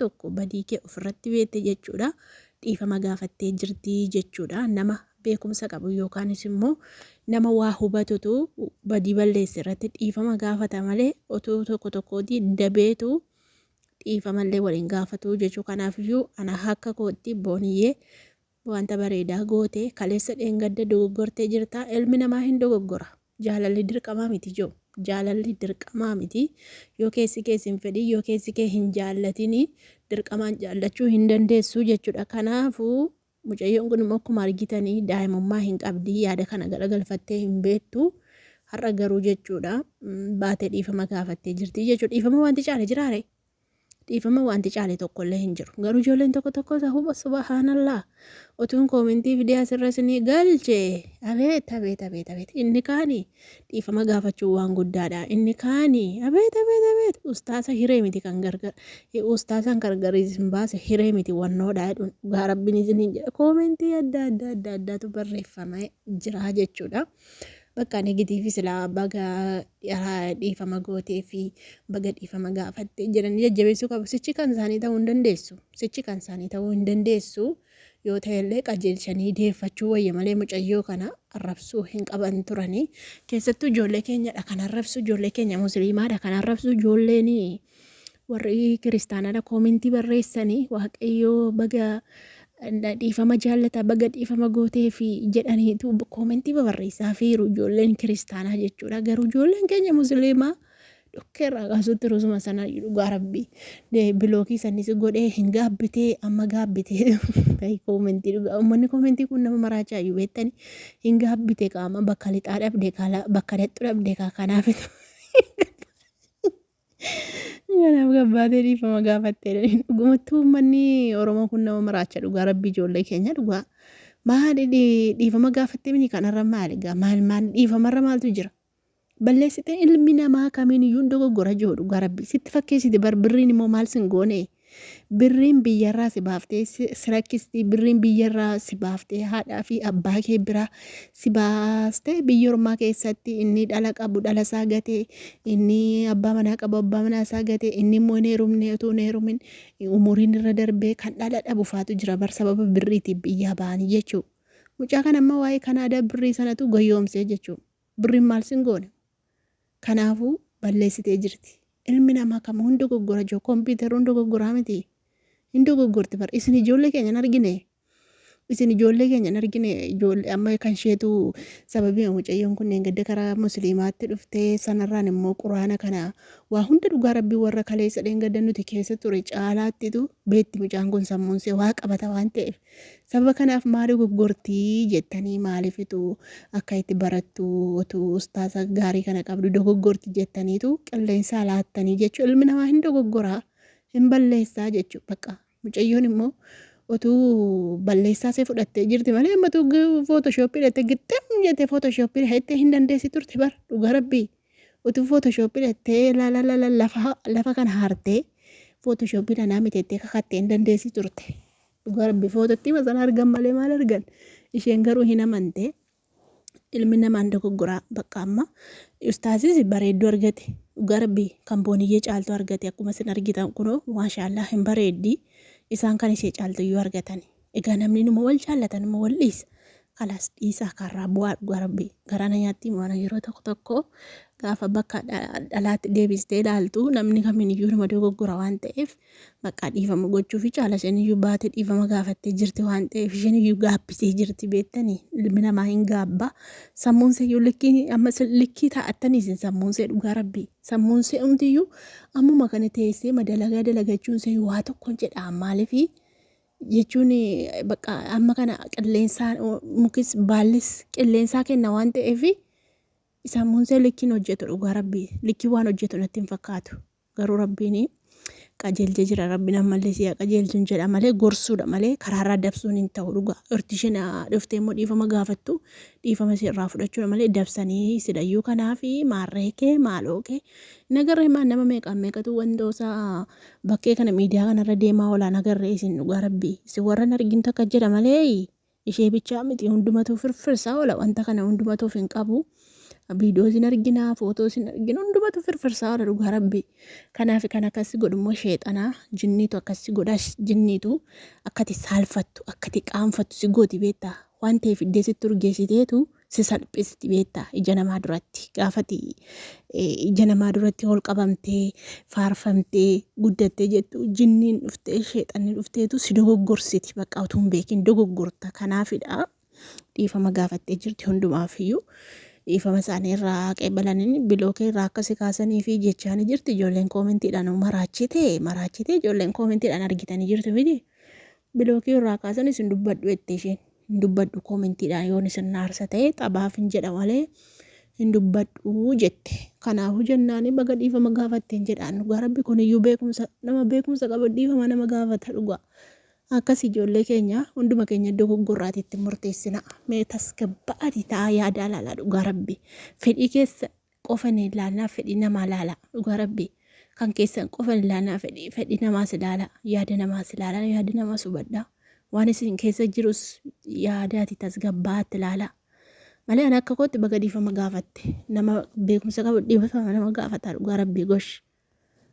tokko badii kee ofirratti beekte jechuudha. Dhiifama gaafattee jirti jechuudha. Nama beekumsa qabu yookaanis immoo nama waa hubatutu badii balleesse irratti dhiifama gaafata malee otoo tokko tokkooti dabeetu dhiifamallee waliin gaafatu jechuu kanaaf iyyuu ana akka kootti booniyyee Wanta bareedaa goote, kaleessa dheengadda dogoggortee jirta, ilmi namaa hin dogoggora. Jaalalli dirqamaa miti jo. Jaalalli dirqamaa miti. Yoo keessi kee sin fedhin, yoo keessi kee hin jaallatin dirqamaan jaallachuu hin dandeessu jechudha. Kanaafu mucayyoon kun immoo akkuma argitan daa'imummaa hin qabdi, yaada kana garagalfattee hin beektu. Har'a garuu jechuudha baate dhiifama gaafattee jirti jechuudha. Dhiifama wanti caale jiraare? Dhiifama waanti caale tokkollee hin jiru. Garuu ijoolleen tokko tokko sahuba subahaanallah otuun koomentii fidee asirra isinii galche abeet abeet abeet abeet inni kaani dhiifama gaafachuu waan guddaadha inni kaani abeet abeet abeet ustaasa hiree miti kan gargar ustaasaan gargar isin baase hiree miti wannoodha jedhuun dhugaa rabbiin isiniin jedha koomentii adda adda adda addaatu barreeffama jiraa jechuudha. Bakka negatiivii silaa baga dhiifama gootee fi baga dhiifama gaafatte jedhanii jajjabeessuu qabu. Sichi kan isaanii ta'uu hin dandeessu. Sichi kan isaanii ta'uu hin dandeessu. Yoo ta'ellee qajeelchanii deeffachuu wayya malee mucayyoo kana arrabsuu hin qaban turanii. Keessattuu ijoollee keenyadha kan arrabsu ijoollee keenya musliimaadha kan arrabsu ijoolleen warri kiristaanaadha koomentii barreessanii waaqayyoo baga dhiifama jaallata baga dhiifama gootee fi jedhaniitu koomentii babarreessaa fiiru ijoolleen kiristaanaa jechuudha garuu ijoolleen keenya musliimaa dhukkee irraa kaasuutti rusuma sana dhugaa rabbii bilookii sannis godhee hin gaabbitee amma gaabbitee koomentii dhugaa uummanni koomentii kun nama maraachaa iyyuu beektanii hin gaabbite qaama bakka lixaa dhabde bakka dadhu dhabde kanaaf Kanaaf gabbaatee dhiifama gaafattee jedhaniin dhugumatti uummanni Oromoo kun nama maraacha dhugaa rabbii ijoollee keenya dhugaa maali dhi- dhiifama gaafattee mini kanarra maali gaa maal maal dhiifamarra maaltu jira balleessitee ilmi namaa kamiin iyyuu hin dogoggora jiru dhugaa rabbii sitti fakkeessiti bar birriin immoo maal sin goonee Birriin biyyarraa si baaftee si rakkisti. Birriin biyyarraa si baaftee haadhaa fi abbaa kee biraa si baastee biyya ormaa keessatti inni dhala qabu dhala isaa gatee inni abbaa manaa qabu abbaa manaa isaa gatee inni immoo hin heerumne utuu hin heerumin umuriin irra darbee kan dhala dhabu faatu jira bar sababa birriitiif biyyaa ba'anii jechuudha. Mucaa kana amma waa'ee Kanaadaa birrii sanatu goyoomsee jechuudha. Birriin maal sin goone? Kanaafuu balleessitee jirti. Ilmi namaa kamuu hin dogoggora jo computer hin dogoggoraa miti. Hin dogoggorti bar isin ijoollee keenya hin argine. Isin ijoollee keenya hin argine ijoollee amma kan isheetu sababii mucayyoon kunneen gadda karaa musliimaatti dhuftee sanarraan immoo quraana kana waa hunda dhugaa rabbii warra kaleessa dheengadda nuti keessa ture caalaattitu beetti mucaan kun sammuun see waa qabata waan ta'eef Sababa kanaaf maa dogoggorti jettanii maalifitu akka itti barattu otuu ustaaza gaarii kana qabdu dogoggorti jettaniitu qilleensaa laattanii jechuu ilmi namaa hin dogoggoraa hin balleessaa jechuu baqa mucayyoon immoo otuu balleessaa see fudhattee jirti malee ammatu footoshoopii dhatte gixxim jettee footoshoopii dhattee hin dandeessi turte bar dhugaa rabbii otuu footoshoopii dhattee lafa kana haartee footoshoopii dhanaa miteettee kakattee hin dandeessi turte. Dhugaa rabbi foototti hima sana argan malee maal argan isheen garuu hin amante ilmi namaan dogoggoraa bakka amma ustaasis bareedduu argate dhugaa rabbi kan booniyyee caaltu argate akkuma isin argitan kunoo maashaallaa hin bareeddi isaan kan ishee caaltu iyyuu argatan egaa namni numa wal jaallatan immoo wal dhiisa kalaas dhiisaa kaarraa bu'aa dhugaa rabbi garaana nyaattii moona yeroo tokko tokko gaafa bakka dha- dhalaatti deebistee ilaaltu namni kamiin iyyuu nama dogoggora waan ta'eef Baqqaa dhiifama gochuufi caala isheniyyuu baate dhiifama gaafattee jirti waan ta'eef isheniyyuu gaabbitee jirti beettanii ilmi namaa hin gaabba sammuunseeyyuu likkii amma likkii taa'attanii isin sammuunsee dhugaa rabbii sammuunsee umtiyyuu ammuma kana teessee madalagaa dalagachuunsee waa tokkon jedhaa maalifi jechuun bakka amma kana qilleensaa mukis baallis qilleensaa kenna waan ta'eef sammuunsee likkiin hojjetu dhugaa rabbii likkii waan hojjetu natti hin fakkaatu. Garuu rabbiin qajeelche jira rabbiin ammallee si haa qajeelchun jedha malee gorsuudha malee karaarraa dabsuun hin ta'u dhugaa irti isheen dhuftee immoo dhiifama gaafattu dhiifama ishee irraa fudhachuudha malee dabsanii silayyuu kanaafi maarree kee maaloo kee nagarree maa nama meeqaan meeqatu wantoosaa bakkee kana miidiyaa kanarra deemaa olaa nagarree isin dhugaa rabbii isin warran argin takka jedha malee Ishee bichaa miti hundumatuu firfirsaa oola wanta kana hundumatuuf hin qabu. Viidiyoos hin arginaa, footoos hin arginu hundumatu firfirsaa oola dhugaa rabbi. Kanaaf kan akkasii godhummoo sheexanaa jinniitu akkasii godhaa jinniitu akkati saalfattu akkati qaanfattu si gooti beektaa waan ta'eef iddee sitti urgeessiteetu si salphisti beektaa ija namaa duratti gaafati ija namaa duratti ol qabamtee faarfamtee guddattee jettu jinniin dhuftee sheexanni dhufteetu si dogoggorsiti bakka utuu hin beekin dogoggorta kanaafidha dhiifama gaafattee jirti hundumaafiyyuu dhiifama isaanii irraa qeebalanii bilookee irraa akka si kaasanii fi jechaanii jirti ijoolleen koomentiidhaan maraachite maraachite ijoolleen koomentiidhaan argitanii jirtu miti Bilookii irraa kaasanis hin dubbadhu jette isheen. Hin dubbadhu koomentiidhaan yoon isin na aarsa ta'e taphaaf hin jedha malee hin dubbadhu jette. Kanaafuu jennaan baga dhiifama gaafatteen jedhaan dhugaa rabbi kuniyyuu beekumsa nama beekumsa qabu dhiifama nama gaafata dhugaa. Akkas ijoollee keenya hunduma keenya iddoo goggorraati itti murteessina. Mee tasgabbaa'aati ta'a yaada alaalaa dhugaa rabbi. Fedhii keessa qofan ilaanaa fedhi namaa laala dhugaa rabbi kan keessan qofan ilaanaa fedhi fedhi namaas ilaala yaada namaas ilaala yaada namaas hubadha waan isin keessa jirus yaadaati tasgabbaatti ilaala malee ani akka kootti baga dhiifama gaafatte nama beekumsa qabu dhiifama nama gaafata dhugaa rabbi gosh